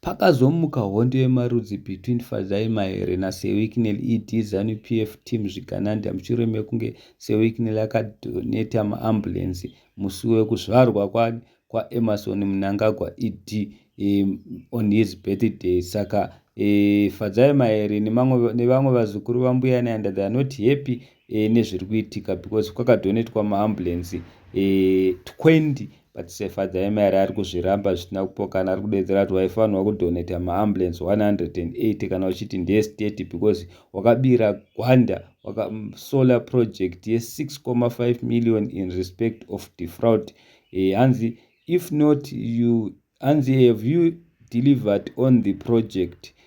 Pakazomuka hondo yemarudzi between Fadzayi Mahere naSewicknell ED Zanu PF team zvikananda mushure mekunge Sewicknell akadoneta maambulenzi musi wekuzvarwa kwaEmmerson Mnangagwa ED um, on his birthday saka um, Fadzayi Mahere nevamwe vazukuru vambuya Nyanda they are not happy um, nezviri kuitika because kwakadonetwa maambulenzi um, 20 But se father emari ari kuzviramba zvisina kupokana ari kudedzera kuti waifanirwa kudoneta maambulance 180 kana uchiti ndeestate because wakabira gwanda waka mm, solar project ye 6,5 million in respect of defraud e, hanzi if not you hanzi have you delivered on the project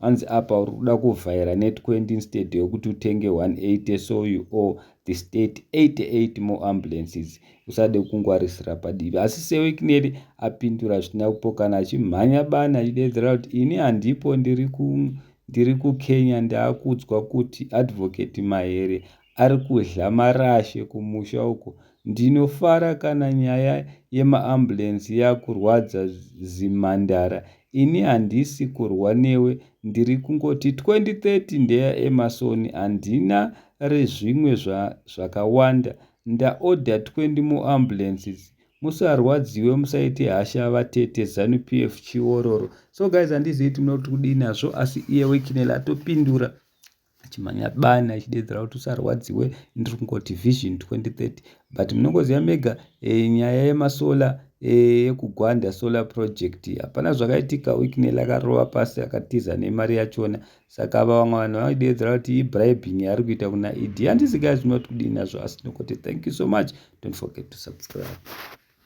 hanzi apa uri kuda kuvhaira net 20 instead yokuti utenge 180 so you owe the state 88 more ambulances usade kungwarisira padivi asi sewikneri apindura zvisina kupokana achimhanya bani achidedzera kuti ini handipo ndiri ku ndiri kukenya ndaakudzwa kuti advocate mahere ari kudhla marashe kumusha uko. Ndinofara kana nyaya yemaAmbulance yakurwadza zimhandara. Ini handisi kurwa newe ndiri kungoti 2030 ndeya Emerson handina rezvimwe zvakawanda. Ndaorder 20 more ambulances. Musarwadziwe musaite hasha vatete Zanu PF chiororo. So guys handizivi tinoda kuti kudii nazvo asi iye Wicknell atopindura. achimhanya bani achideedzera kuti usarwadziwe ndiri kungoti vision 2030 but munongoziva mega e, nyaya yemasolar eh, yekugwanda e, solar project hapana zvakaitika wicknel akarova pasi akatiza nemari yachona saka ava vamwe vanhu vaideedzera kuti ibribing yaari kuita kuna ed handisi gai zvinoti kudii nazvo asi ndingoti thank you so much don't forget to subscribe